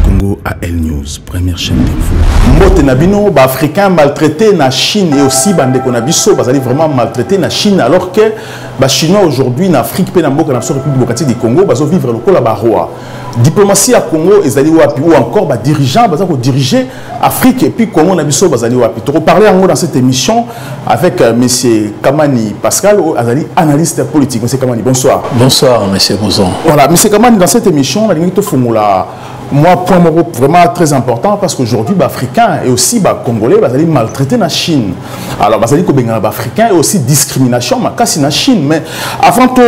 Congo AL News, première chaîne d'info. Mbote na bino, ba africains maltraités na Chine et aussi bande qu'on a biso, bazali vraiment maltraités na Chine alors que ba chinois aujourd'hui na Afrique pe na mboka na République démocratique du Congo bazo vivre lokola ba rois. Diplomatie à Congo ezali wapi ou encore ba dirigeants baza ko diriger Afrique et puis Congo na biso bazali wapi toko parler yango dans cette émission avec euh, monsieur Kamani Pascal oh, azali analyste politique monsieur Kamani bonsoir bonsoir monsieur Bouzon voilà monsieur Kamani dans cette émission na lingi to fungula moi point moko vraiment très important parce qu'aujourd'hui ba africains et aussi ba congolais bazali maltraité na Chine alors bazali ko bengana ba africains et aussi discrimination makasi na Chine mais avant to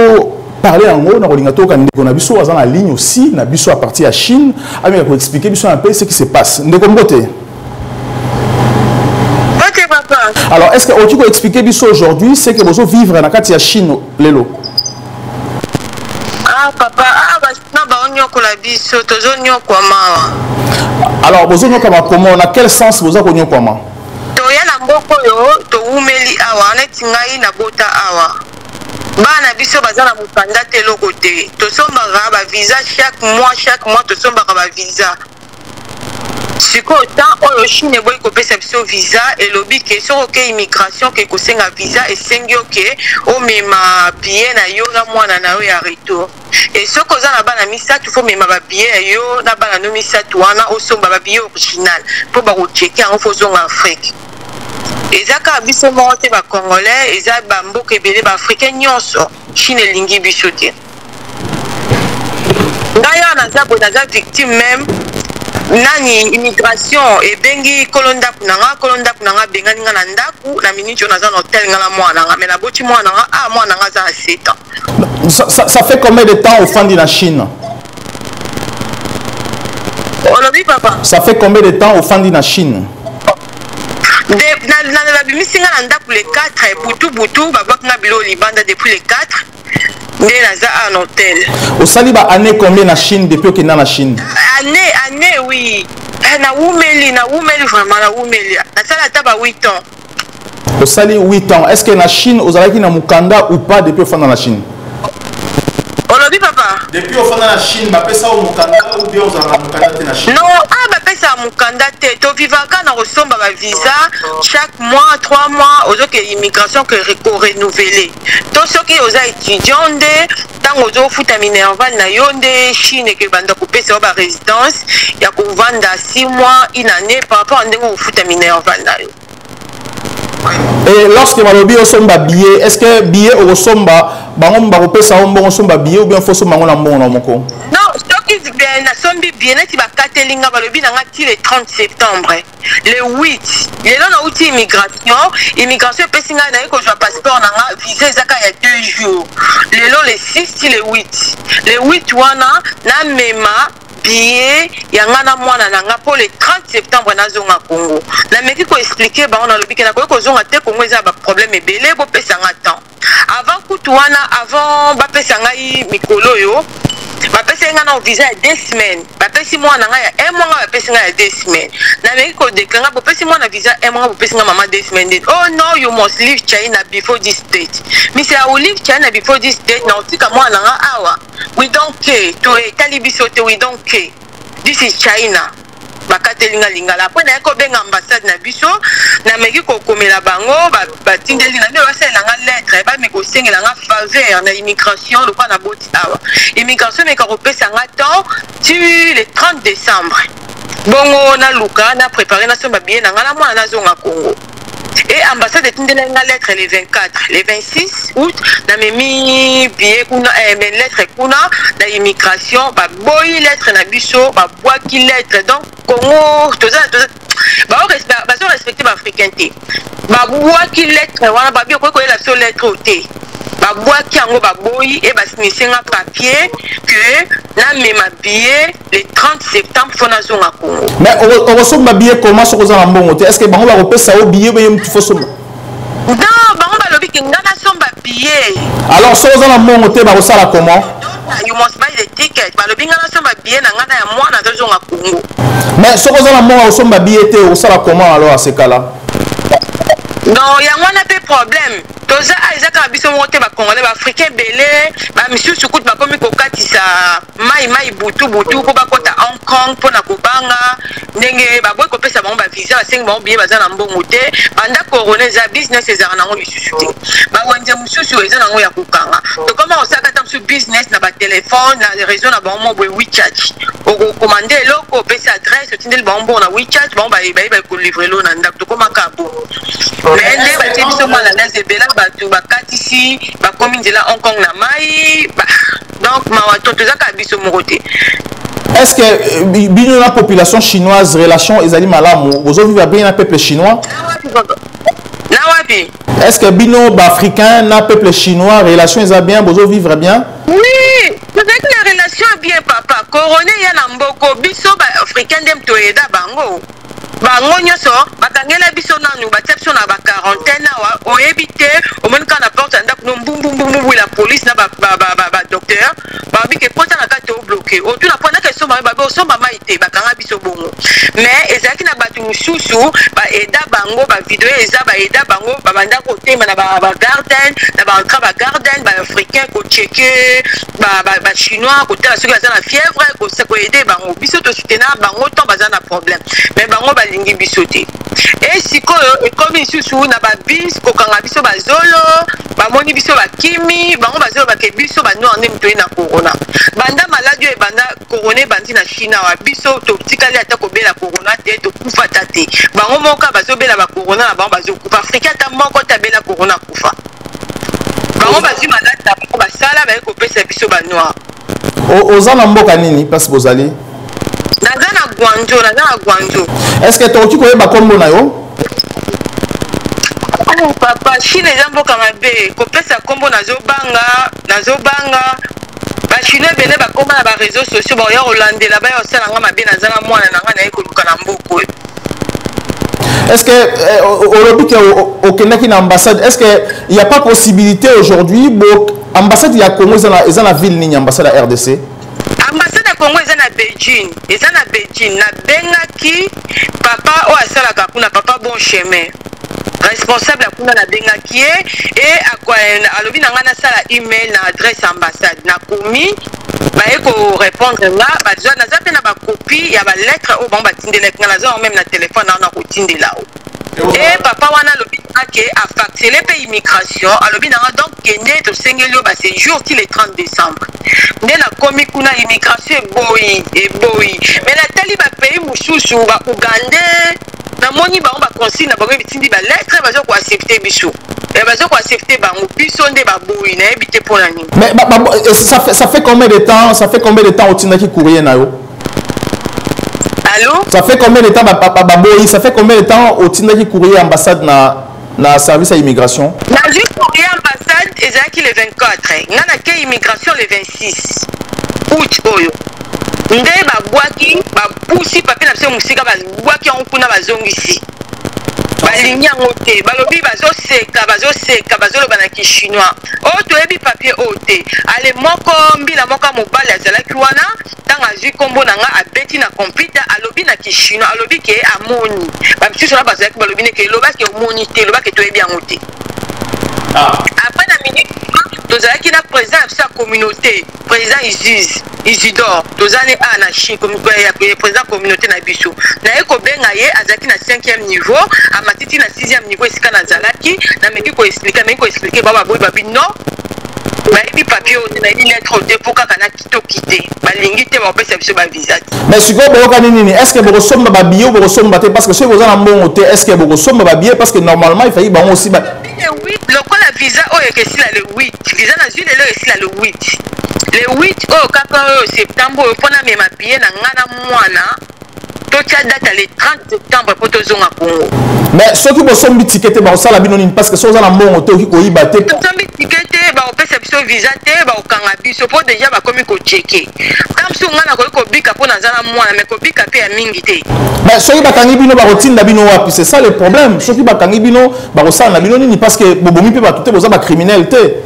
parler yango na kolinga toyoka ndeko na biso aza na ligne aussi na biso à partir ya chine ameka koexplike biso un peu ce qui se passe ndeko mbote alors est ce que okoki koexplike biso aujourd'hui ce que bozo vivre na kati ya chine lelo ah papa ah basina baonyokola biso tozonyokwama alors bozonyokwama comment na quel sens boza konyokwama toya na mboka oyo towumeli awa neti ngai nabota awa bana na biso baza na mokanda te eloko te tosombaka bavisa chaque mois chaque mois tosombaka bavisa sikoyo temps oyo chine eboyi kopesa biso visa elobi ke soki oke immigration ke kosenga visa esengi yo ke omema biye na yo na mwana na yo ya retour e soki oza na bana misato fo omema babiye ya yo na bana no misato wana osomba babiye original mpo bakoceke yango fo ozonga afrique eza kaka biso moko te bacongolais eza bamboka ebele baafricain nyonso chine elingi biso te ngai awa naza boye naza victime meme nani immigration ebengi kolo ndako na nga kolo ndako na nga abengani nga na ndako na miniti oyo naza na hotel nga na mwana na nga mai naboti mwana na nga a ah, mwana na nga aza na 7 ans ça, ça, ça fait combien de temps ofandi na chine olobi papa ça fait combien de temps ofandi na chine babimisi nga na ndako le 4 butu butu babwaki nga biloko libanda depuis le 4 nde naza en hôtel osali ba année combien na chine depuis okenda na chine année année oui eh, nawumeli nawumeli vraiment nawumeli nasala ata ba 8 ans osali 8 ans est ce que na chine ozalaki na mokanda ou pas depuis ofanda na chine olobi papa depuis ofanda na chine bapesa yo mokanda ou bien ozalaka mokanda te na chine no ah, bapesa ya mokanda te tovivaka na kosomba bavisa chaque mois 3 mois ozoke immigration ko renouvele to soki oza étudiant nde ntango ozofuta minerval na yo nde chine eke banda kopesa yo baresidence ya kovanda 6 mois une année par rapport ya ndenge okofuta minerval na yo Et lorsque malobi osomba billet, est-ce que billet okosomba bango bakopesa yo mbongo osomba billet ou bien faut somba yango na mbongo na moko? Non, soki nasombi billet neti bakateli nga balobi na nga ti le 30 septembre. le 8 lelo nauti immigration immigration epesi ngai naye kozwa passeport na nga visa ezaka ya deux jours lelo le 6 ti le 8 le 8 wana namema biye ya ngai na mwana na ngai mpo le 30 septembre nazonga congo nameki koexplike bango nalobi ke nakoki kozonga te congo eza ya baproblème ebele bopesa ngai temps avant kutu wana avant bapesa ngai mikolo oyo bapesaki ngai nao visa ya deux semaines bapesi mwana ngai ya un mois ngai bapesi ngai ya deux semaines nameki kodekla ngai bopesi mwana visa un mois ngai bopesi ngai mama deux semaines then oh no you must leave china before this date misi i will leave china before this date naotika mwana ngai awa we don't care to etali biso te we don't care this is china bakateli nga lingala apres naye kobenga ambassade na biso nameki kokomela bango batindeli na nde basalela nga lettre bameki kosengela nga faveur na immigration lokola naboti awa immigration meka kopesa nga temps ti le 30 décembre bongo naluka na prépare nasomba biye na nga na mwana nazonga congo e ambassade etindelaki nga lettre le 24 le 26 août namemi bie kuna eh, me lettre kuna na immigration baboyi lettre na biso babwaki lettre donc congo toza bazo respecte baafricain te babwaki lettre wana babi okoki koyela biso lettre oyo te babwaki yango baboyi e basinise nga papier que namema bie le 30 septembre mpo nazonga congo mais okosomba billet koma soki oza na mbongo te est ce que bango bakopesa yo billet beye motu fosomba non bango balobi ke nga nasomba billet alors soki oza na mbongo te bakosala comment you must buy the ticket balobi nga nasomba billet na nga na ya mwana azozonga congo mais soki oza na mbongo akosomba billet te okosala comment alors asekala non yango wana mpe problème toza ah, eza kaka biso moko te bacongolais baafricain ebele bamisusu kutu bakomi kokatisa mai mai butu butu mpo bakɔta hong kong mpo na kobanga ndenge baboyi kopesa bango bavisa basengi bango biye baza na mbongo te banda corona eza business ezalaka nango lisusu te bawenze mosusu eza nango ya kokanga tokoma kosaka ata mosusu business na batelefone na réseau na bango mo boye wechat okokomande eloko opesi adresse otindeli bango mbongo na wechat bango bayeba kolivre elo na ndako tokomaka bo me nde batie biso mwana naze ebela bato bakatisi bakomi nzela hong kong na mai donc mawa to toza kaka biso moko te est ce que euh, bino na population chinoise relation ezali malamu bozovivre bien na peuple chinois na wapi est ce que bino baafricain na peuple chinois relation eza bien bozovivre bien oui tozalaki na relation bien papa corone ya na mboko biso baafricain nde toyeda bango bango nyoso bakangela biso nanu batia biso na ba quarantaine awa oyebi te omoni kaka na porte ya ndako no mbumbumbumbu la police na badocteur babi ke kota na kati obloke otuna mpo naka esomba mai babi osomba mai te bakanga biso bongo mais ezalaki na bato mosusu baeda bango bavideo eza baeda bango babanda kotema na bagarden na baentra bagarden baafricain kocheke bachinois kotala soki baza na fièvre koaide bango biso tosutena bango ntan baza na problème mais bango balingi biso te e sikoyo ekomi lisusu na babis kokanga biso bazolo bamoni biso bakimi bango bazolobake biso banoir nde moto ye na corona banda maladi oyo ebanda corona ebandi na chine awa biso totikali ata kobela corona te tokufa ata te bango moko bazobela bacorona na bango bazokufa afrika ata moko te abela corona akufa bango bazwi maladi na bango basala baye kopesa biso banoir oza na mboka nini place bozali naza na guanjo naza na guanjo est ce que tokoki koyeba nkombo na yo oh, papa chine eza mboka mabe kopesa nkombo nazobanga nazobanga bachinois ebele bakoma na bareseau sociaux bakoya kolandela baya kosala nga mabe naza na mwana na ngai naye koluka na mboka oyo est ce que eh, olobi ke okendaki na ambassade est ce que ya pas possibilité aujourd'hui bo ambassade ya congo eza na ville nini ambassade ya rdc ambassade ya congo eza na beijing eza na beijing nabengaki papa oyo asalaka kuna papa bon chemin responsable ya kuna nabengaki ye e alobi na ngai nasala email na adresse ya ambassade nakomi baye korépondre nga baza naza mpe na bakopi ya balettre oyo bango batindelaki nga naza yango meme na telefone na wana kotindela o e papa wana alobi ake afaxele mpe immigration alobi nanga donc kende tosengeli yo basejour ti le 30 décembre nde nakomi kuna immigration eboyi eboyi me natali bapays mosusu ba ougandais namoni bango baconsigne na bango bitindi baletre baza koaccepte biso eh, baza koaccepte bango biso nde baboyi nayebi te mpo na nini mais ba, ba, eh, ça, fait, ça fait combien de temps ça fait combien de temps otindaki courrier na yo Allô ça fait combien de temps baboyi ba, ba, ça fait combien de temps otindaki courrier ambassade na na service ya immigration nazwi courrier ambassade ezalaki le 24 nga nake immigration le 26 août oyo nde babwaki bapusi papi na biso mosika babwaki yango kuna bazongisi balingi yango te balobi bazoseka bazoseka bazoloba na kichinois oyo oh, toyebi papier oyo oh, te ale moko mbila moko mobali azalaki wana ntango azwi nkombo na nga abeti na computer alobi na kishino alobi ke amoni bamisusu wana bazalaki balobi neke eloba ke omoni te eloba ke toyebi yango te ah. après na minute tozalaki na président ya biso ya communauté président isus isidor toza ne a na chine ya président communauté na biso naye kobenga ye azalaki na 5e niveau amatiti na 6e niveau esika nazalaki nameki koexplike ameki koexplike bababoyi babi non nayebi papier oyo te nayebi lettre oyo te mpo kaka na toki te balingi te bakopesa biso bavisa te mais sikoyo boyokani nini est ce que bokosomba babiye ou bokosomba te parce que soki boza na mbongo te est ce que bokosomba babiye parce que normalement efaki bango osi lokola visa oyo ekesila le 8 visa nazwi lelo esila le 8 le 8 oyo kaka oyo septembre oyo mpo namema biye na ngai na mwana totya data le 30 septembre mpo tozonga congo mais soki bosombi tike te bakosala bino nini parce que soki oza na mbongo te oki koyiba te tosombi tike te bakopesa biso visa te bakokanga biso mpo deja bakomi kocheke ata mosusu ngai nakoki kobika mpo naza na mwana mai kobika mpe ya mingi te mais soki bakangi bino bakotinda bino wapi c'est ça le problème soki bakangi bino bakosala na bino nini parce que bobomi mpe bato te boza bacriminel te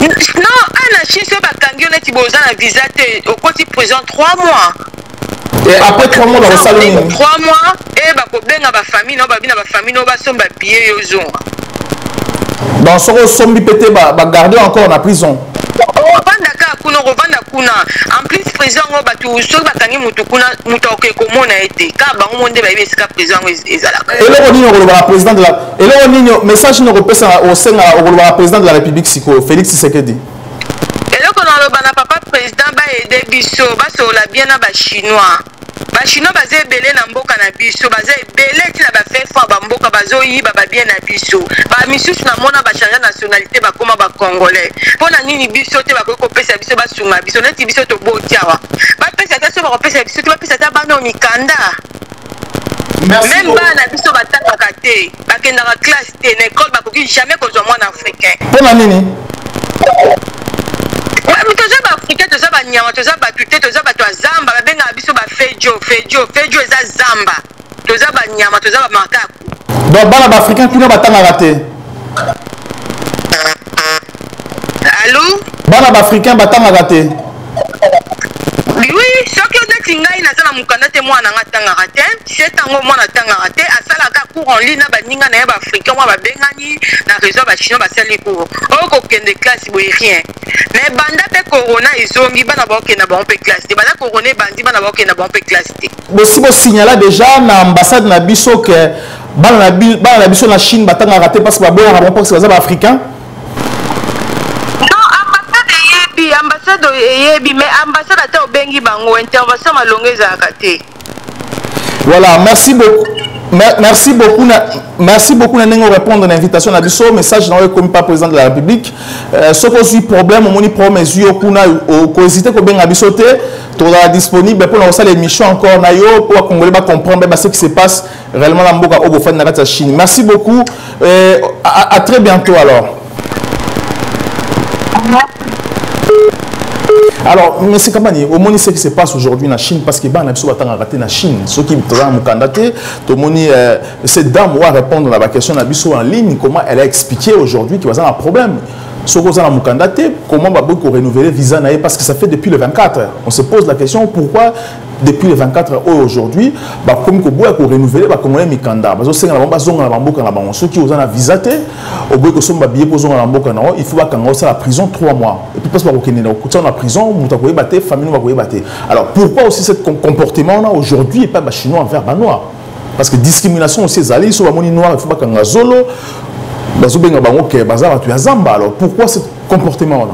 non ana chine soki bakangi yo neti boza na visa te okoti prison 3 mois Et après 3 mois, on s'allume. 3 mois, et bah, problème à ma famille, non, bah, bien à ma famille, non, bah, son, bah, billet, yo, zon. Dans ce cas, son, pété, bah, bah, garder encore la prison. Rwanda kaka kuna kovanda kuna en plus président yango bato soki bakangi motu kuna moto akoki komona ye te kaka bango mo nde bayebi esika président yango ezalaka eloko nini okolobaka président de la eloko nini message nini okopesa osengaka okolobaka président de la république sikoyo félix tshisekedi eloko naloba na papa president baede biso basolola bien na bachinois bachinois baza ebele na mboka na biso baza ebele ti na bafefo ya bamboka bazoyiba babie na biso bamisusu namona bachange nationalité bakoma bacongolais mpo na nini biso te bakoki kopesa biso basunga biso neti biso toboti awa bapesa te so bakopesa biso te bapesa ata bana mikanda meme bana biso batangaka te bakendaka classe te na ecole bakoki jamais kozwa mwana africain mpo na nini toza baafricain toza banyama toza bato te toza bato ya zamba babengaka biso bafejo fejo fejo eza zamba toza banyama toza bamakaku donc bana baafricain kuna batangaka te alo bana baafricain batangaka te oui soki neti ngai naza na mokanda te mwana nanga atangaka te cet yango mwana atangaka te asalaka cour en ligne na baninga na ye baafricain mwa babengani na réseau bachinois basali cour oyo kokende classe boye rien mais banda mpe corona ezongi bana baokenda bango mpe classe te banda corona ebandi bana baokenda bango mpe classe te bosi bosignala déjà na ambassade na biso ke bana na biso na chine batangaka te mpasi baboyaka bango mpasi baza baafricain eyebi ambassade eyebi mais ambassade ata obengi bango intervention malonga ezalaka te voilà merci beaucoup merci beaucoup na merci beaucoup na ndenge orépondre na invitation na biso message na oyo ekomi pa président de la république euh, soki ozwi problème omoni problème ezwi yo kuna okohésite kobenga biso te tozala disponible mpo na kosala émission encore na yo mpo bakongole bacomprendre mpe base qui se passe Réellement la mboka obo fan na kati ya Chine. Merci beaucoup. Euh, à, à très bientôt alors. alors mais c'est comment dire omoni ce qui se passe aujourd'hui na chine parce que bana biso batangaka te na chine soki toza na mokanda te tomoni euh, cette dame oyo arépondre na baquestion na biso en ligne comment elle a expliqué aujourd'hui que baza na problème soki oza na mokanda te comment baboki korenouvele visa na ye parce que ça fait depuis le 24 on se pose la question pourquoi depuis le 24 heures oyo aujourd'hui bakomi koboya korenouvele bakongole mikanda bazosenga na bango bazonga na bamboka na bango soki oza na visa te oboyi kosomba babiye mpo ozonga na mboka na yango il faut bakanga osala prison 3 mois epuis place bakokende na kokutia na prison moto akoyeba te famille bakoyeba te alors pourquoi aussi ce comportement wana aujourd'hui epai bachinois envers banoir parce que discrimination aussi ezali so bamoni noir il faut bakanga zolo bazobenga bango ke baza bato ya zamba alors pourquoi ce comportement wana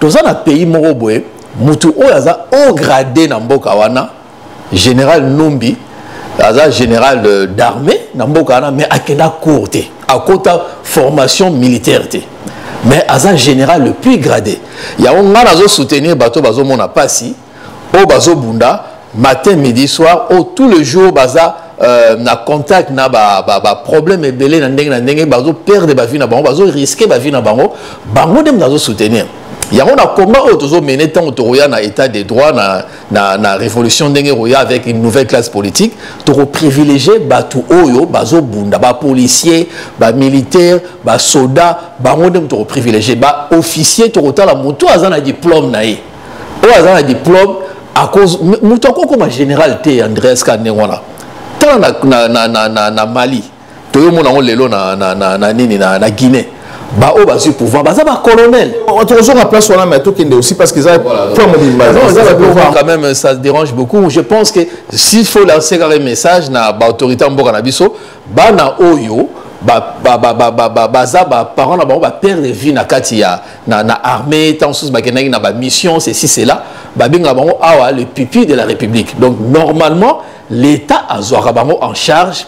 toza na pays moko boye mutu oyo aza haut grade na mboka wana général numbi aza général euh, d'armée na mboka wana mais akenda cour te akota formation militaire te mais aza général le plus gradé yango ngai nazosoutenir bato bazomona mpasi oyo bazobunda matin midi soir oyo tout le jour baza euh, na contact na baproblème ba, ba ebele na ndenge na ndenge bazoperdre bavie na bango bazoriske bavie na bango bango nde moto azosoutenir yango na combat oyo tozomene ntango tokoya na état de droit na, na, na révolution ndenge ekoya avec une nouvelle classe politique tokoprivilégie bato oyo bazobunda bapolicier bamilitaire basoda bango nde moto tokoprivilégie baofficier tokotala moto aza na diplôme na ye oyo aza na diplome akoz moto akoki okoma général te andreas ka ndenge wana tala na, na, na, na, na, na mali toyomona yango lelo na, na, na, na nini na, na guinée baoyo bazwi pouvoir baza bacolonel tokozonga place wana mai tokende aussi parce que eza point mobimba quand même ça dérange beaucoup je pense que s'il faut lancer kaka message na baautorité ya mboka na biso bana oyo baza baparent na bango baperdre vie na kati ya na, na armée ntango mosusu bakendaki na bamission ceci cela babengaka bango awa le pupille de la république donc normalement l'état azwaka bango en charge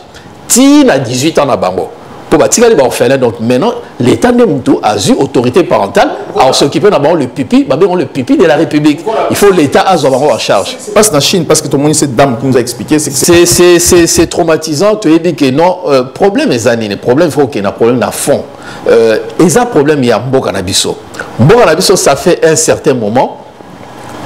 ti na 18 ans na bango mpo batikali baorphelin donc maintenant l'état nde motu azwi autorité parentale aosokipe na bango le pipi babengo le pipi de la république il faut l'état azwa bango en charge passe na chine parce que tomoni cette dame qui nous a expliqué c'est traumatisant toyebi que non euh, problème eza nini problème faut okenda problème na fond euh, eza problème ya mboka na biso mboka na biso ça fait un certain moment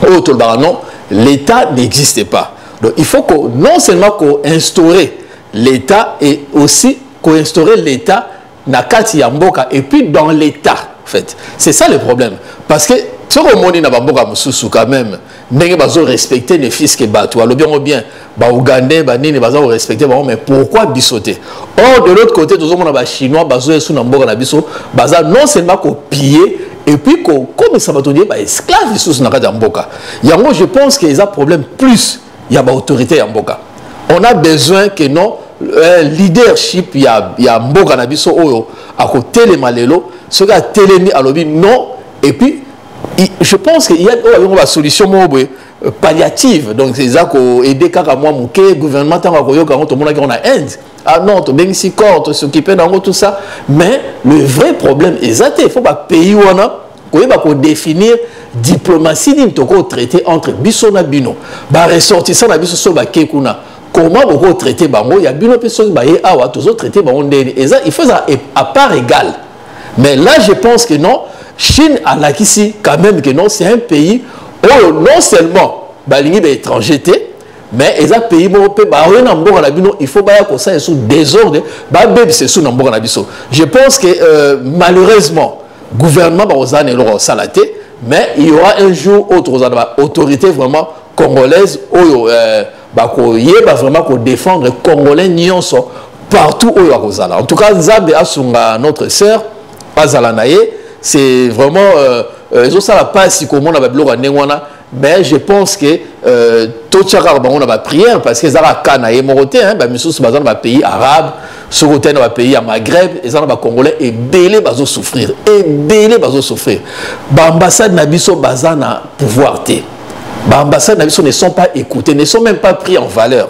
oyo tolobaka non l'état n'existe pas donc il faut que non seulement koinstaurer l'état et aussi koinstaurer l'état na kati ya mboka et puis dans l'état en fait c'est ça le problème parce que soki omoni na bamboka mosusu quand même ndenge bazo respecte ne fils que bato alobi yango bien baougandais banini baza korespecte bango mais pourquoi biso te or de l'autre côté tozomona bachinois bazo esu na mboka na biso baza non seulement kopille epuis kokomisa bato ndie baesclave lisusu na kati ya mboka yango je pense que eza problème plus ya baautorité ya mboka on a besoin que non euh, leadership ya, ya mboka na biso oyo akotelema lelo soki atelemi alobi non epuis je pense que ya oyo alongo basolution moko boye euh, palliative donc eza koaide kaka mwa moke gouvernement ntango akoyoka yango tomonaki yango na inde ah non tobengisi corps tosokipe na yango tout ça mais le vrai problème eza te faut bapays wana koyeba kodéfinir diplomatie nini tokoki traité entre biso na bino baressortissant na biso so bakei kuna comment bokoki traité bango ya bino mpe soki baye awa tozotraite bango ndeni eza il faut ezala à part égale mais là je pense que non chine alakisi quand même que non c'est un pays oyo non seulement balingi baétranger te mais eza pays moko mpe baoye na mboka na bino il faut baya kosala esu désordre babebisa esu na mboka na biso je pense que euh, malheureusement gouvernement bakozala na eloko kosala te mais il y aura un jour oyo tokozala na baautorité vraiment congolaise oyo euh, bakoyeba vraiment ko défendre congolais nyonso partout oyo akozala en tout cas nzambe asunga notre sœur azala na ye c'est vraiment euh, euh, ezosala mpasi komona babiloko ya ndenge wana mais je pense que euh, totyaka bango na baprière parce que ezalaka ka na ye moko te bamisusu baza na bapays arabe soki otali na bapays ya maghreb eza na bacongolais ebele bazosouffrir ebele bazosouffrir baambassade na biso baza na pouvoir te ba ambassade na biso ne sont pas écoutés ne sont même pas pris en valeur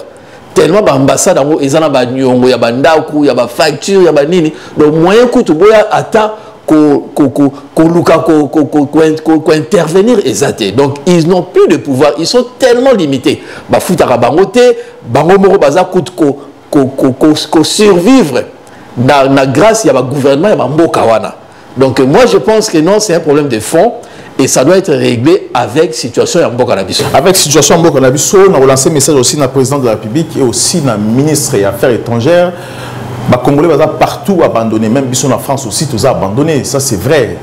tellement ba ambassade yango eza na banyongo ya bandako ya bafacture ya banini donc moyen kutu boya ata koluka kointervenir eza te donc ils n'ont plus de pouvoir ils sont tellement limités bafutaka bango te bango moko baza kutu ko ko survivre na, na grâce ya ba gouvernement ya ba mboka wana donc moi je pense que non c'est un problème de fond et ça doit être réglé avec situation ya mboka na biso avec situation ya mboka na biso na relancer message aussi na président de la république et aussi na ministre ya affaires étrangères bakongolais baza partout abandonné même biso na france aussi toza abandonné ça c'est vrai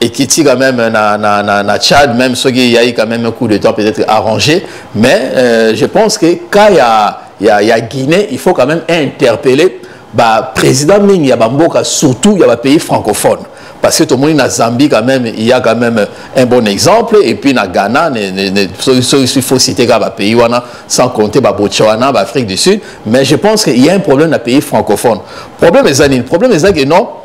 ekiti quand même na, na, na, na Tchad même ceux qui y a eu quand même un coup de temps peut-être arrangé mais euh, je pense que quand il y a, y, a, y a Guinée il faut quand même interpeller bah, président mingi ya bamboka surtout ya bapays francophones parce que tomoni na Zambie quand même il y a quand même un bon exemple et puis na Ghana ne, ne, ne, so, so, il faut citer kaka bapays wana sans compter babotswana baafrique du sud mais je pense qu'il y a un problème na pays francophone problème eza nini problème eza que non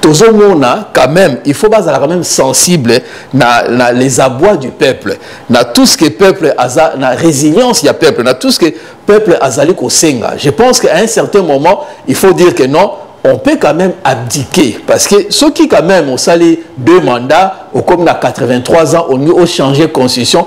tozomona quand même il faut bazala quand même sensible na, na les abois du peuple na tout ce que peuple aza na résilience ya peuple na tout ce que peuple azali kosenga je pense qu'à un certain moment il faut dire que non on peut quand même abdiquer parce que ceux qui quand même ont sali deux mandats au comme na 83 ans on au changer constitution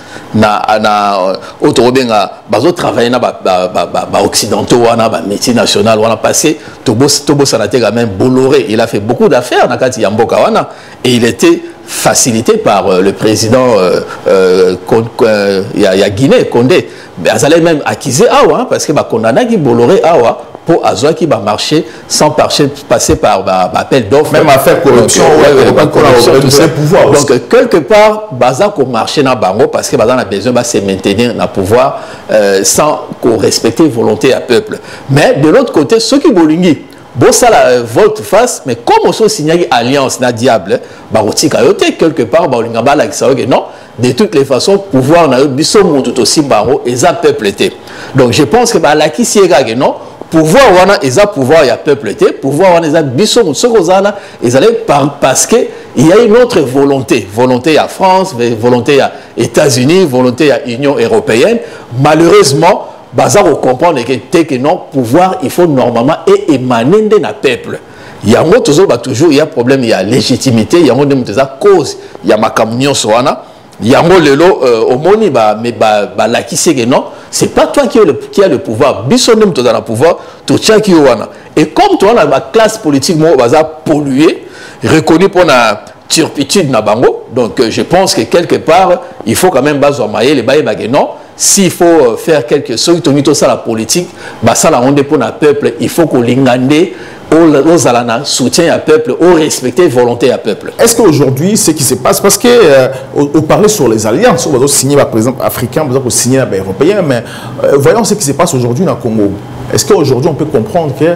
na na oyo tokobenga bazotravaille na baoccidentaux ba, ba, ba wana bamétier national wana passé tobosana te quand même bolloré il a fait beaucoup d'affaires na kati ya mboka wana et il était facilité par euh, le président euh, euh, euh, ya, ya guinée condé azalaki même accusé awa parce que bakondamnaki bolloré awa mpo azwaki bamarché sans passer par bah, bah, appel d'offres. Même affaire corruption, donc, euh, ouais, ouais, corruption tout ça. Pouvoir donc, aussi. quelque part, baza ko marcher na bango parce que baza na besoin de se maintenir na pouvoir euh, sans qu'on respecter volonté à peuple. Mais de l'autre côté, ceux qui bolingi, bosala euh, volte face mais comme oso osignaki alliance na diable bakotika yo te quelque part baolinga balakisa yo ke non de toutes les façons pouvoir na yo biso mutu tosimba yango eza peuple te donc je pense que balakisi ye kaka non pouvoir wana eza pouvoir ya peuple te pouvoir wana eza biso motu soki oza wana ezali parce que il y a une autre volonté volonté ya france volonté ya états-unis volonté ya union européenne malheureusement baza kocomprendre ke te ke non pouvoir il faut normalement e émane nde na peuple yango tozoloba toujours ya problème ya légitimité yango nde moto eza cause ya makambo nyonso wana yango lelo euh, omoni balakisi eke non c'est pas toi qui, le, qui a le pouvoir biso nde moto oza na pouvoir totiaki yo wana et comme towana baklasse politique moko baza pollue reconnu mpo na turpitude na bango donc euh, je pense que quelque part il faut quand même bazwa mayele bayeba ke non s'il faut euh, faire quelque soki tolingi tosala politique basala yango nde mpo na peuple il faut kolinga nde ozala na soutien ya peuple orespecte volonté ya peuple est ce que aujourd'hui ce qui se passe parce que euh, oparle sur les alliances oyo bazosigne par exemple africain baza kosigne na baeuropéen mais euh, voyons ce qui se passe aujourd'hui na congo est ce que aujourd'hui on peut comprendre que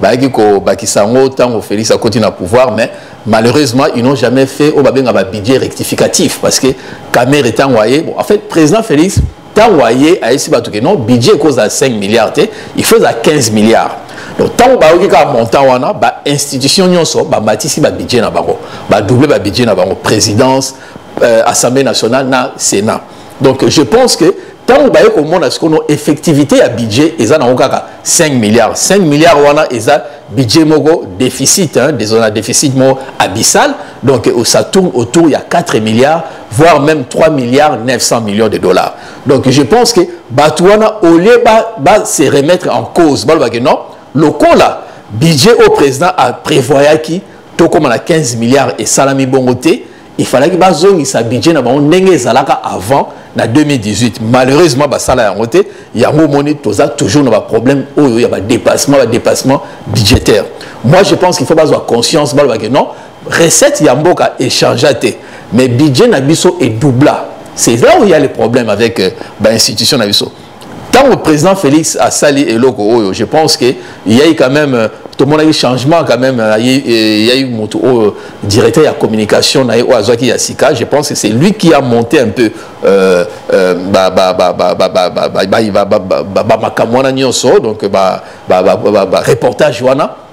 bayaki kobakisa yango ntango félix akoti na pouvoir mais malheureusement ils n'ont jamais fait oyo babenga babudget rectificatif parce que camere ntango aye bon en fait président félix ntango aye ayesi bato ke non budget ekozala 5 milliards te il faut ezala 15 milliards donc ntango bayoki kaka montant wana bainstitution nyonso bamatisi babudget na bango badouble babudget na bango présidence euh, assemblée nationale na sénat donc je pense que ntango baye komona sikono effectivité ya budget eza nango kaka 5 milliards 5 milliards wana eza budget moko déficit hein, na déficit moko abyssal donc euh, ça tourne autour ya 4 milliards voire même 3 milliards 900 millions de dollars donc je pense que bato wana au lieu ba, ba se remettre en cause balobake non lokola budget oyo président aprévoyaki tokóma na 15 milliards esalami bongo te il fallaki bazongisa budget na bango ndenge ezalaka avant na 2018 malheureusement basala yango te yango omoni toza toujours na baproblème oyo ya badépassement badépassement budgétaire moi je pense qu'il faut bazwa conscience baloba ke non recette ya mboka échangea te mais budget na biso edoubla c'est là où il y a le problème avec euh, bainstitution na biso ntango président félix asali eloko oyo je pense que yai quand même euh, tomonaki changement quand même euh, euh, yai motu oyo directeur ya communication na ye oyo azwaki ya sika je pense que c'est lui qui a monté un peu bamakambo wana nyonso donc bareportage wana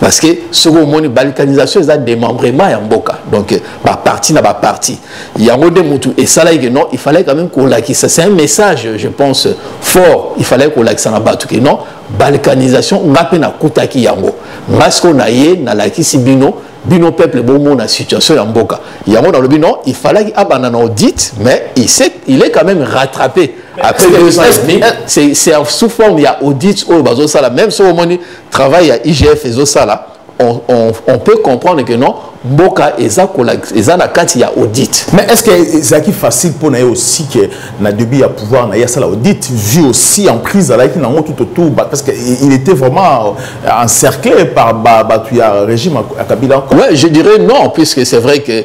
parce que soki omoni balkanisation eza démembrement ya mboka donc baparti na baparti yango nde motu esalaki ke non il fallait quand même kolakisa c'est un message je pense fort il fallait kolakisa na bato ke non balkanisation nga mpe nakutaki yango nga sikoyo na ye nalakisi bino bino peuple bomona situation ya mboka yango nalobi non il fallaki abanda na audit mais il, sait, il est quand même rattrapé après deux ans et demi c'est sous forme ya audit oyo bazosala même soki omoni travail ya igf ezosala on, on, on peut comprendre que non mboka eza, kola, eza na kati ya audit mais est ce que ezalaki facile mpo na ye aussi que na début ya pouvoir na ye asala audit vu aussi en prise azalaki nango tout autour parce que il était vraiment encerclé par bato ya régime ya kabila ouais je dirais non puisque c'est vrai que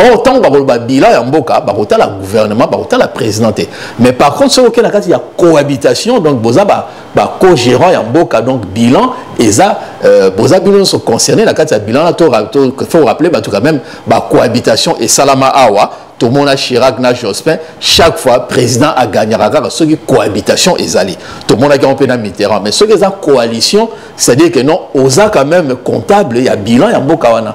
or ntango bakoloba bilan ya mboka bakotala gouvernement bakotala président te mais par contre soki okei na kati ya cohabitation donc boza bacogérant ya mboka donc bilan eza euh, boza bino nyonso concerné na kati ya bilan na faut rappeler bato quand même bacohabitation esalama awa tomona chirac na jospin chaque fois président agagnaka kaka soki cohabitation ezali tomonaki yango mpe na mitterrand mais soki eza coalition c'est à dire que non oza quand même comptable ya bilan ya mboka wana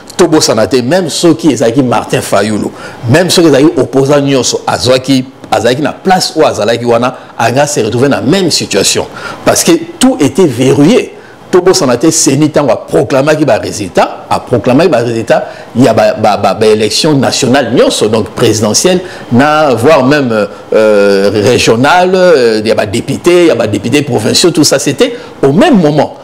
tobosana te meme soki ezalaki martin fayulu meme soki ezalaki opposant nyonso azwaki azalaki na place oyo azalaki wana anga se retrouver na même situation parce que tout était verrouillé tobosana te seni ntango aproclamaki baresultat aproclamaki baresultat ya baélection ba, ba, ba nationale nyonso donc présidentielle na voire même euh, euh régionale euh, ya badepute ya badepute provinciaux tout ça c'était au même moment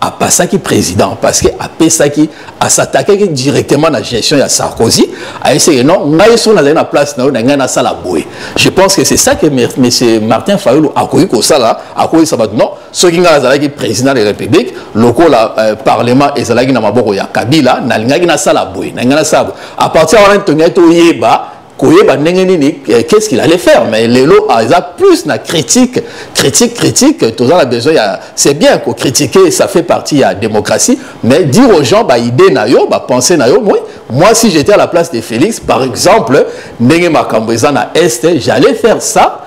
apasaki président parce que apesaki asatakaki directement na gestion ya sarkozy ayeseke non ngai soki nazali na place na yo na ngai nasala boye je pense que c'est ça que monsieur martin fayulu akoki kosala akoyisa bato non soki ngai azalaki président de la république lokola euh, parlement ezalaki na maboko ya kabila nalingaki nasala boye na ngai nasala boye à partir wana tongaki toyeba koyeba ndenge nini eh, qu'est-ce qu'il allait faire mais lelo ah, eza plus na critique critique critique toza na besoin ya c'est bien ko critiquer ça fait partie ya démocratie mais dire aux gens ba idée na yo ba pensée na yo moi moi si j'étais à la place de Félix par exemple ndenge makambo eza na est j'allais faire ça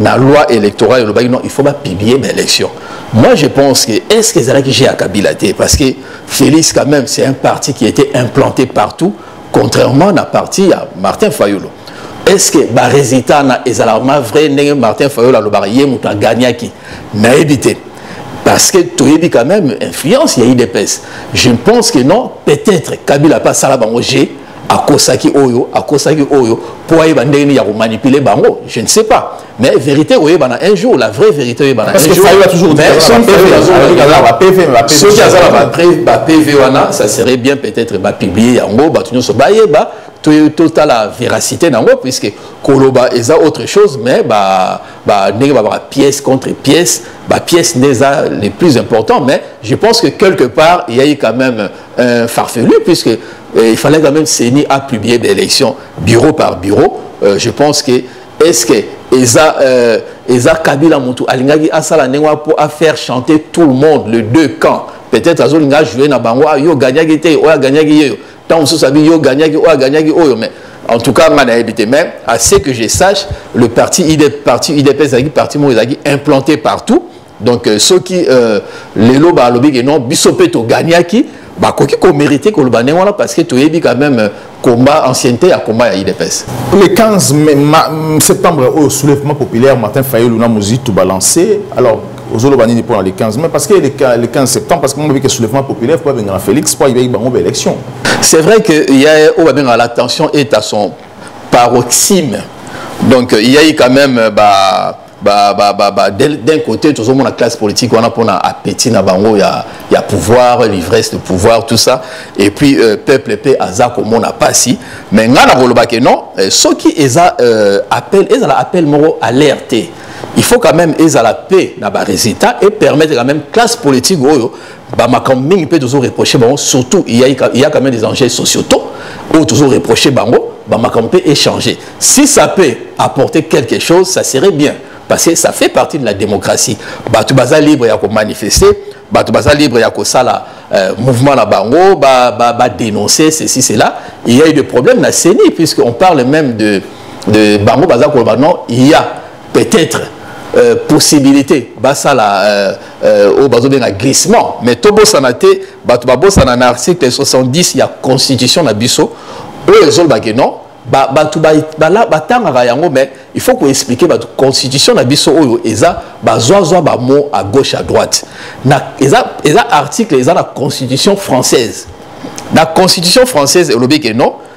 na loi électorale elobaki non il faut bapublier baélection moi je pense que est ce que ezalaki jeu ya kabila te parce que félix quand même c'est un parti qui était implanté partout contrairement na parti ya martin fayolo est ce que barésultat na ezalaka ma vrai ndenge martin fayolo alobaka ye moto agagnaki nayebi te parce que toyebi quand même influence ya idps je pense que non peut-être kabila mpe asala bango jeu akosaki oyo akosaki oyo mpo ayeba ndenge nini ya komanipule bango je ne sais pas mais vérité oyebana un jour la vraie vérité oyebana soki aza na bapv wana ça serait bien peut-être bapublie yango bato nyonso bayeba totala véracité na yango puisque koloba eza autre chose mais ndenge babaka pièce contre pièce bapièce nde eza le plus important mais je pense que quelque part eyai quand même euh, farfelu puisque euh, il fallait quand même CENI a publié des élections bureau par bureau euh, je pense que est-ce que eza euh, eza kabila mutu alingaki asala ndenge wana mpo afaire chanter tout le monde le deux camps peut-être azolinga ajoue na bango ah, yo gagnaki te oyo agagnaki yeyo ntango mosusu abi yo gagnaki oyo agagnaki oyo mais en tout cas nga nayebi te mais à ce que je sache le parti idps parti idps ezalaki parti moko ezalaki implanté partout donc euh, soki euh, lelo balobi ke non biso mpe toganiaki bakoki komérite koloba ndenge wana parce que toyebi quand même euh, combat ancienneté ya combat ya idps le 15 mai, ma, septembre oyo oh, soulèvement populaire martin fayulu na mozitu balance alors ozoloba nini mpo na le 15 mai parce que le 15 septembre parce que mobiki soulèvement populaire mpo abengana félix mpo ayibaki bango baélection c'est vrai que ya oyo babengaka la tension est à son paroxyme donc il y a eu quand même euh, bah, ba, ba, ba, ba, d'un côté tozomona classe politique wana mpona appétit na bango ya, ya pouvoir l'ivresse de pouvoir tout ça et puis euh, peuple mpe aza komona pasi mais ngai nakoloba ke non euh, soki eza euh, appel ezala appel moko alerte te il faut quand même ezala mpe na baresultat et permettre quand même classe politique oyo ba makambo mingi mpe tozo reproche bango surtout il y a, il y a quand même des enjeux sociétaux oyo tozo reproche bango ba makambo mpe échanger si ça peut apporter quelque chose ça serait bien parce que ça fait partie de la démocratie bato baza libre ya komanifeste bato baza libre ya kosala euh, mouvement na bango badénoncer ba, ba ceci cela il y a eu des problèmes na ceni puisque on parle même de, de bango baza koloba non il y a peut-être euh, possibilité basala euh, euh, oyo bazobenga glissement mais tobosana te bato babosana na article 70 ya constitution na biso oyo ezolobake non bato batangaka yango mais il faut koexplike bato constitution na biso oyo eza bazwazwa bamo à gauche à droite na, eza, eza article eza na constitution française na constitution française elobi ke non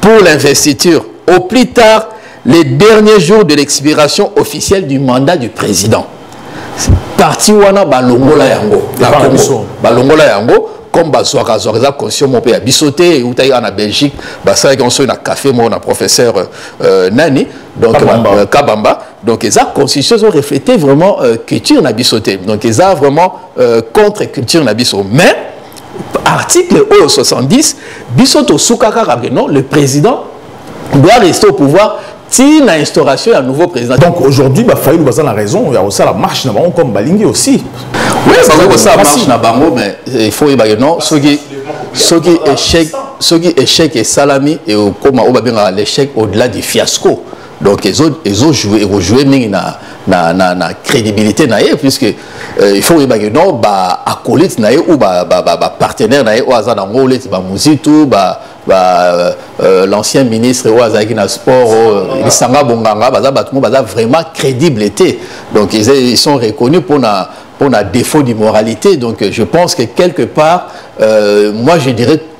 pour l'investiture au plus tard les derniers jours de l'expiration officielle du mandat du président parti wana balongola yango na congo balongola yango comme bazwaka azwaka eza conscient moko mpe ya biso te eutaki awa na belgique basalaki yango soki na café moko na professeur euh, nani donc kabamba, euh, kabamba. donc eza constitution ezo refléter vraiment euh, culture na biso te donc eza vraiment euh, contre culture na biso mais article oyo 70 biso tosuka kaka que non le président doit rester au pouvoir ti na instauration ya nouveau président donc aujourd'hui bafayulu baza na raison ya kosala marche na bango comme balingi aussi oui bakoki kosala marche na bango mais il faut oyeba que non soki soki échec soki échec esalami ekokoma oyo babengaka l'échec au-delà du fiasco donc ezo ezo jouer eko jouer mingi na na na na crédibilité na ye puisque euh, il faut oyeba que non ba acolyte na ye ou ba ba ba, ba partenaire na ye oyo aza na ngo leti ba muzitu ba ba euh, l'ancien ministre oyo azalaki na sport oyo lisanga bonganga baza bato mo baza vraiment crédible te donc ils, ils sont reconnus mpo na mpo na défaut d'immoralité donc je pense que quelque part euh, moi je dirais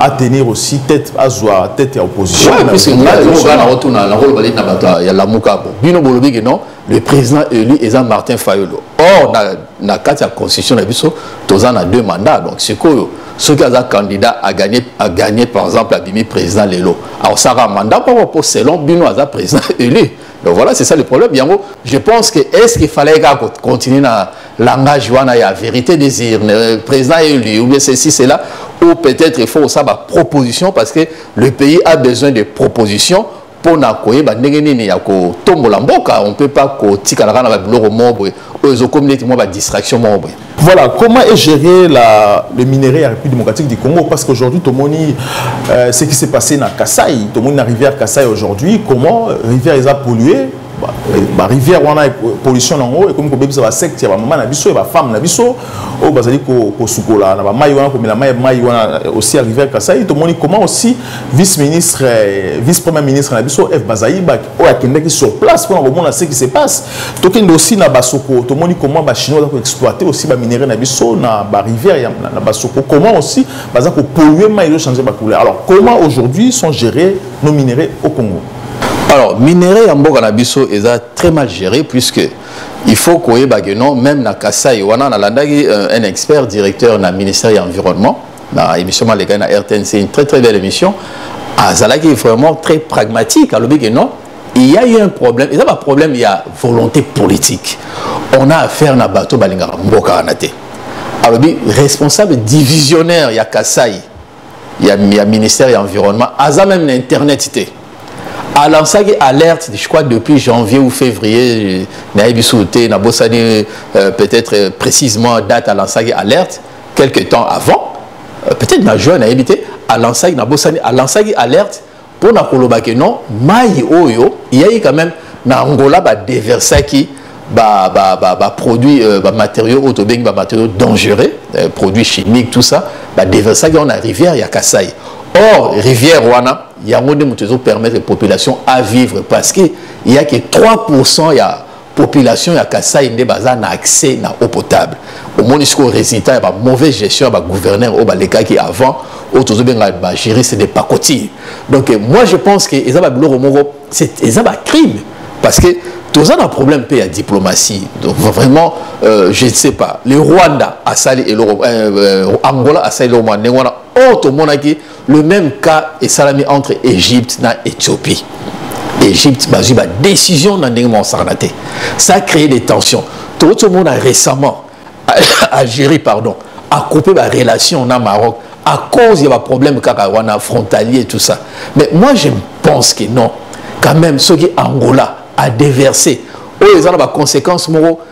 a tenir aussi tête azwa tête ya opposition ouais, puisque ngai oyoka na otuna na koloba na bato ya lamuka bo bino bolobi ke non le président élu eza martin fayolo or na, na kati ya constitution na biso toza na deux mandats donc sikoyo soki aza candidat a gagné, a gagné par exemple abimi président lelo akosalaka mandat moko mpo selon bino aza président élu donc voilà c'est ça le problème yango je pense que est ce qu'il fallait kaka continuer na langage wana ya vérité désir euh, président élu ou bien ceci cela ou peut-être il faut ça ba proposition parce que le pays a besoin de propositions pour na koyeba ndenge nini ya kotombola mboka on peut pas kotikala kaka na babiloko moko boye oyo ezokomi neti mwa badistraction moko boye Voilà, comment est géré la, le minerai à République démocratique du Congo Parce qu'aujourd'hui, Tomoni, euh, ce qui s'est passé dans Kassai, Tomoni, la rivière Kassai aujourd'hui, comment rivière les a polluée ba rivière wana pollution nango ekomi kobebisa ba secte ya ba mama na biso ya ba femme na biso oyo bazali kosukola na ba mai wana komela mai mai wana euh, aussi ya rivière kasai tomoni comment aussi vice ministre euh, vice premier ministre na biso f bazaiba oyo akendaki sur place mpona komona ce qui se passe tokende aussi na basoko tomoni comment bachinois baza koexploite aussi baminerai na biso na barivière na basoko comment aussi baza kopolue mai ezochanger bacouleur alors comment aujourd'hui sont gérés nos minerais au congo Alors, minerais ya mboka na biso eza très mal géré puisque il faut koyeba que non même na Kasaï wana nalandaki euh, un expert directeur na ministère ya environnement na émission maleka na RTNC une très très belle émission azalaki vraiment très pragmatique alobi que non il y a eu un problème eza ba problème ya volonté politique on a affaire na bato balingaka mboka wana te alobi responsable divisionnaire ya Kasaï ya, ya ministère ya environnement aza même na internet te alansaki alerte je crois depuis janvier ou février nayebi suu te nabosani euh, peut-être euh, précisément date alansaki alerte quelque temps avant euh, peut-être na juin nayebi te alansaki nabosani alansaki alerte mpo na koloba ke non mai oyo eyaki quand même na angola badeversaki baproduit ba, ba, ba euh, bamatériaux oyo tobengi bamatériaux dangereux euh, produits chimiques tout ça badeversaki yango na rivière ya kasai or rivière wana yango nde moto ezopermettre population à vivre parce que eyaki 3 pourcent ya population ya kasai nde baza na accès na eau potable omoni sikoyo résultat ya bamauvaise gestion ya bagouverneur oyo balekaki avant oyo tozobenga bajuriste de pacotille donc moi je pense que eza babiloko moko eza bacrime parce que toza na problème mpe ya diplomatie donc vraiment euh, je ne sais pas le rwanda asali eloko euh, euh, angola asali eloko mwa ndenge wana oyo tomonaki le même cas esalami entre égypte na éthiopie égypte bazwi badécision na ndenge mwa osakana te ça a créé des tensions tokoti omona récemment algérie pardon acoupe barelation na maroc à cause ya baproblème kaka wana frontalier tout ça mais moi je pense que non quand même soki angola a déversé oyo eza na baconséquence moko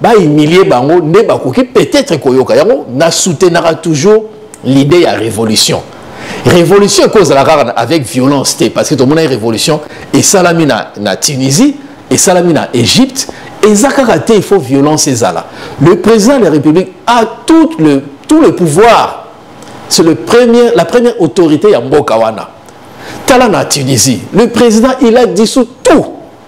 ba humilier bango nde bakoki peut-être koyoka yango na soutenaka toujours l'idée ya révolution révolution ekozala kaka avec violence te parce que tomonaki révolution esalami na, na tunisie esalami na égypte eza kaka te il faut violence ezala le président de la république a tout le, tout le pouvoir c'est le premier, la première autorité ya mboka wana tala na tunisie le président il a dissous tout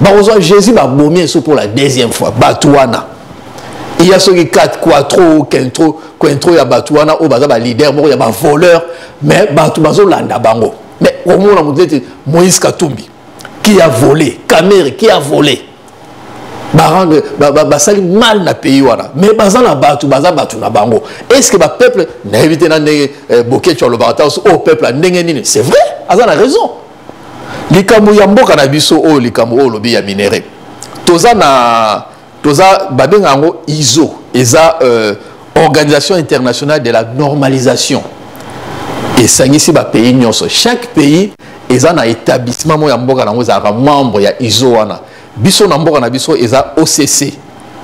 bakozwa jésus babomi esu mpo la deuxième fois bato wana iya soki 4 quatro quintro quintro ya bato wana oyo baza baleader moko ya bavoleur mais bato bazolanda bango mais omona moto neti moïse katumbi qui a volé kamere qui a volé barendre basali ba, ba, mal na pays wana mais baza na bato baza bato na bango est ce que bapeuple nayebi te na ndenge eh, boketsho alobaka ta o oh, peuple ya ndenge nini c'est vrai aza na raison likambo ya mboka na biso oyo likambo oyo olobi ya minere toza na toza babenga yango iso eza euh, organisation internationale de la normalisation esangisi bapays nyonso chaque pays eza na établissement moko ya mboka na yango ezalaka membre ya iso wana biso na mboka na biso eza occ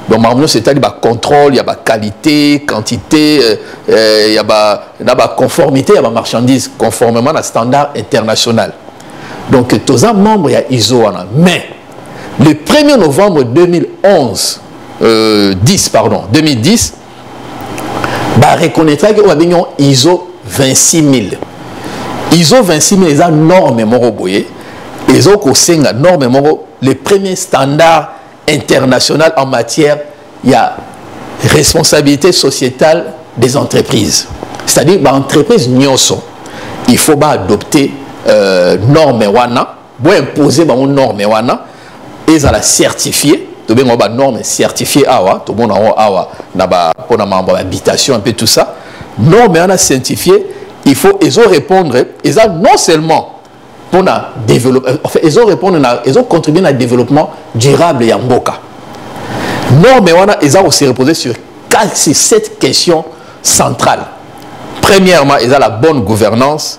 donc makambo nyonso etali bacontrôle ya baqualité quantité euh, euh, ya ba, na baconformité ya bamarchandise conformément na standard international donc toza membre ya iso wana mais le 1er novembre 2011 euh, 10 pardon 2010 ba reconnaîtra que babengi yango iso 26 000 iso 26 000 eza norme moko boye ezo kosenga norme moko le premier standard international en matière ya responsabilité sociétale des entreprises c'est-à-dire baentreprise nyonso il faut baadopte euh, norme wana Bo imposer bango norme wana ezala certifier tobenga ba norme certifier awa tomona yango awa na ba pona mambo ya habitation un peu tout ça norme wana certifier il faut ezo répondre eza non seulement pona développement enfin ezo répondre na ezo contribuer na développement durable ya mboka norme wana eza ko se reposer sur c'est cette question centrale. Premièrement, il y a la bonne gouvernance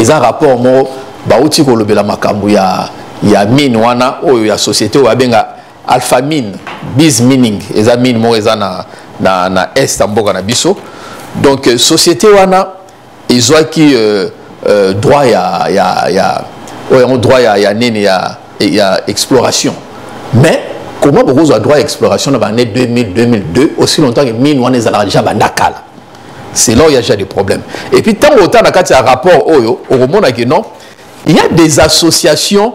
eza rapport moko bauti kolobela makambo ya, ya mine wana oyo ya société oyo abenga alpha mine biz mining eza mine moko eza na, na, na est ya mboka na biso donc euh, société wana ezwaki euh, euh, droit ya, ya, ya oyo yango droit ya, ya nini ya, ya exploration mais comment bokozwa droit ya exploration na bane 2000 2002 aussi longtemps que mine wana ezalaka déjà banda kala c'est là où il y a déjà des problèmes et puis ntango otala na kati ya rapport oyo okomona ke non il y a des associations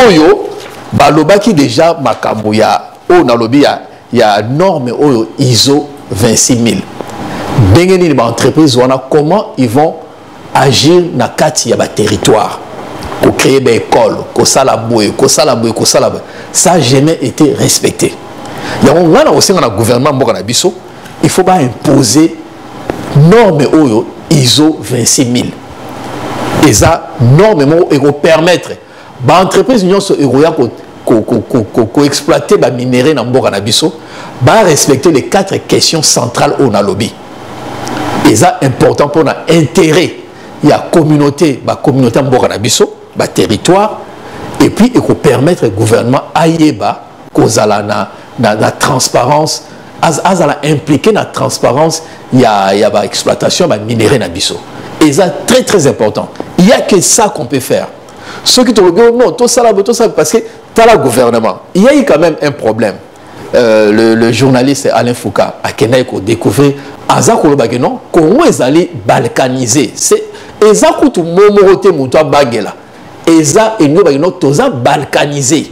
oyo balobaki déjà makambo ya oyo nalobi ya, ya norme oyo iso 26 000 ndenge nini baentreprise wana comment ils vont agir na kati ya baterritoire kocreye baekole kosala boye kosala boye kosala boye ça jamais été respecté yango ngai na kosenga na gouvernement mboka na biso il faut baimposer norme oyo iso 26 000 eza norme moko ekopermettre ba entreprise nyonso ekoya koexploite ko, ko, ko baminerai na mboka na biso barespecte les quatre questions centrales oyo nalobi eza important mpona intérêt ya communauté bacommunauté ya mboka na biso baterritoire et puis ekopermettre gouvernement ayeba kozala na, na, na transparence azala impliqué na transparence ya ya ba exploitation ba minerais na biso eza très très important il y a que ça qu'on peut faire ceux qui te regardent non tout ça là tout ça parce que t'as la gouvernement il y a eu quand même un problème euh, le, le journaliste Alain Foucault a kenai ko découvrir aza koloba ke non Congo ezali balkanisé c'est eza kutu momoro te moto abagela eza elingi obaki no toza balkanisé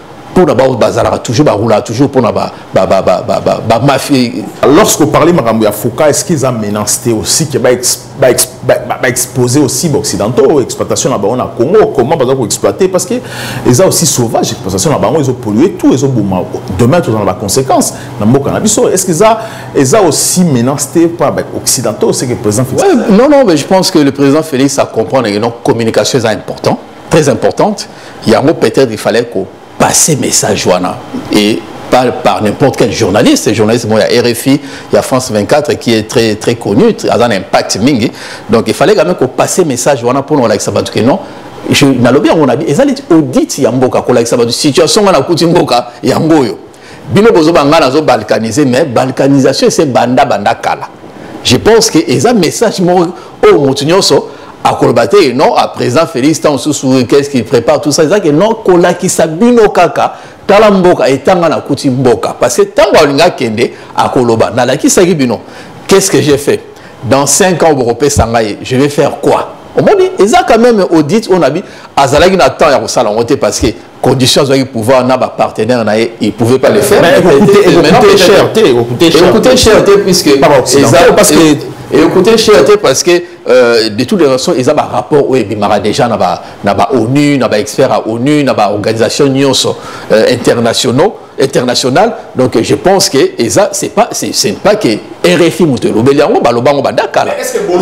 mpo na baoyo bazalaka toujours barulaka toujours mpo na bamafie lorsque oparle makambo ya foka est ce qu'ils a menace te aussi ke baexpose aussi baoccidentaux exploitation na bango na congo comment baza koexploite parce que eza aussi sauvage exploitation na bango ezopollue tout ezoboma demain tozala na baconséquence na mboka na biso est ce que eza eza aussi menace te mpo na baoccidentaux ce que président félix ouais, non non mais je pense que le président félix a comprendre que donc communication eza important très importante yango peut-être il fallait ko passer message wana et pas par n'importe quel journaliste journaliste moi ya RFI ya France 24 qui est très très connu a un impact mingi donc il fallait quand même ko passer message wana pour nous lakisa batu que non je nalobi yango na bi ezali audit ya mboka ko lakisa batu situation wana kuti mboka yango oyo bino bozoba ngai nazo balkanise mais balkanisation ese banda banda kala je pense que eza message moko oyo oh, motu nyonso akoloba te non a président félix ntango mosusu qu'est ce qu'il prépare tout ça eza ke non kolakisa bino kaka tala mboka etanga nakuti mboka parce que ntango alingi akende akoloba nalakisaki bino qu'est ce que j'ai fait dans 5 ans bokopesa ngai je vais faire quoi omoni eza quand même audit oyo nabi azalaki na temps ya kosala yango te parce que condition azwaki pouvoir na bapartenaire na ye il pouvait pas le faire ekoute cher te puisque ekoute cher te parce que euh, de toutes les façons eza barapport oyo ebimaka déjà na baonu na baexpert ya onu na baorganisation nyonso euh, internationaux international donc je pense que eza c'est pas c'est pas que RFI moto elobeli yango baloba yango badakala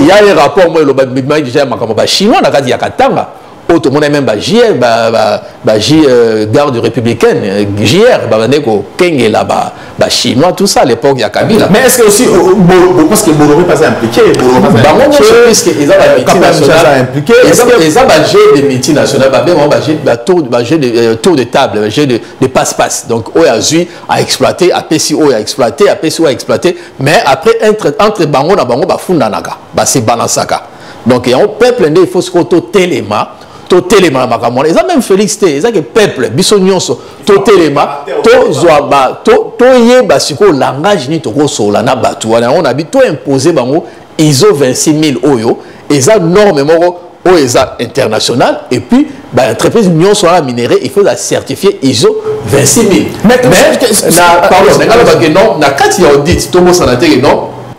ya ye rapport moi eloba bimaki déjà ya makambo bachinois na kati ya katanga oyo tomonaki meme bajr baji euh, garde républicaine euh, jr babandaki kokengela bachinois tout ça à l'époque ya kabila mais est ce que aussi euh, parce que bolome pas impliqué bango nyonso puisque eza bamultinationalmpliqué eza bajeu de multinational babengo bajeu de tour de table bajeu de passe passe donc oyo azwi a exploité apesi oyo a exploité apesi oyo a exploité mais après entre bango na bango bafundanaka basebanasaka donc yango peuple nde il faut sikoyo totelema totelema na makambo wana eza meme félix te eza ke peuple biso nyonso totelema tozwa ba toyeba sikoyo langage nini tokosolola na bato wana yango nabi toimpose bango iso 26 000 oyo eza norme moko oyo eza international et puis baentreprise nyonso wana minerai il faut la certifier iso 26 000 mais na pardon nalobake non na kati ya audit tobosana te ke non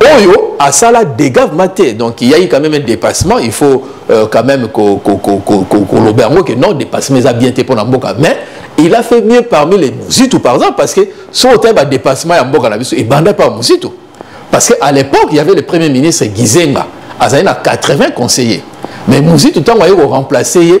oyo asala dégâts vraiment te donc il y a eu quand même un dépassement il faut euh, quand même koloba yango que non dépassement eza bien te mpona mboka mais il a fait mieux parmi les muzitu par exemple parce que soki otali badépassement ya mboka na biso ebanda par muzitu parce que à l'époque il y avait le premier ministre gizenga azali na 80 conseillers mais muzitu ntango aye koremplace ye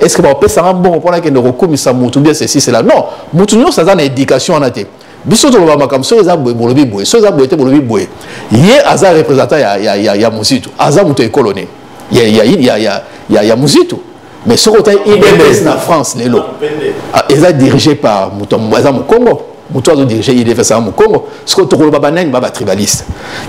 est ce que bakopesa nga mbongo mpo nakende kokumisa motu bien ceci cela non motu nyonso aza na éducation wana te biso toloba makambo soki eza boye bolobi boye soki eza boye te bolobi boye ye aza représentant ya, ya, ya, ya mozitu aza moto ekolo nini ya, ya, ya, ya, ya, ya mozitu mais soki otali udps na france lelo ah, eza dirige par moto aza mokongo moto azo dirige idfs aza mokongo sikoyo tokoloba banani ba batribaliste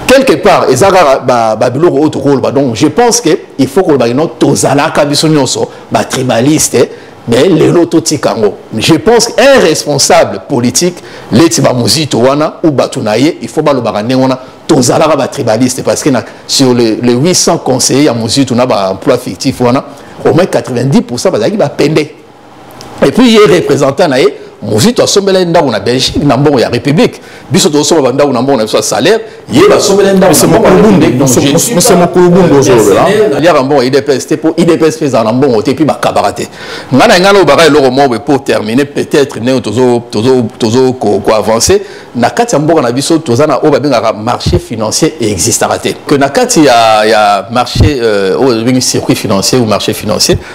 quelque part eza kaka babiloko oyo tokoloba donc je pense que il faut koloba kino tozalaka biso nyonso batribaliste mais lelo totika yango je pense un responsable politique leti bamozito wana ou bato na ye il faut balobaka ndenge wana tozalaka batribaliste parce que na, sur le, le 800 conseiller ya mozito na baemploi fictif wana au moins 90 bazalaki bapende et puis ye représentant na ye mozito asombela ye ndako na belgique na mbongo ya république biso tozosomba bandako na mbongo na biso ya salaire ye basombela ye ndako aliaka mbongo ya idps te mpo idps mpe ezala na mbongo te mpe bakabaka te ngai na ngai naobaka eloko moko mpo termine peut-être ndenge tozokoavance na kati ya mboka na biso toza na oyo babengaka marché financier existaka te que na kati ya marché euh, oyo ebingi circuit financier ou marché financier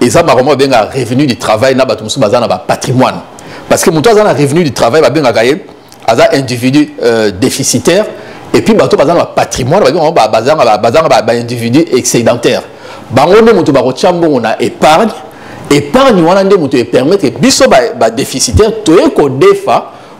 eza makambo babenga revenu du travail na bato mosusu baza na bapatrimoine parce que moto aza na revenu du travail babengaka ye aza individu euh, déficitaire et puis bato baza na bapatrimoine bazanga baindividu excédentaire bango nde moto bakotya mbongo na épargne épargne wana nde moto epermettre biso badéficitaire toye kodefa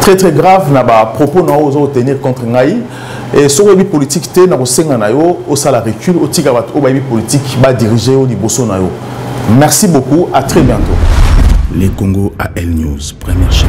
très très grave na ba propos na ozo tenir contre ngai et soki oyebi politique te na kosenga na yo osala recul otika bato oyo bayebi politique ba diriger yo liboso na yo merci beaucoup à très bientôt les congo a l news première chaîne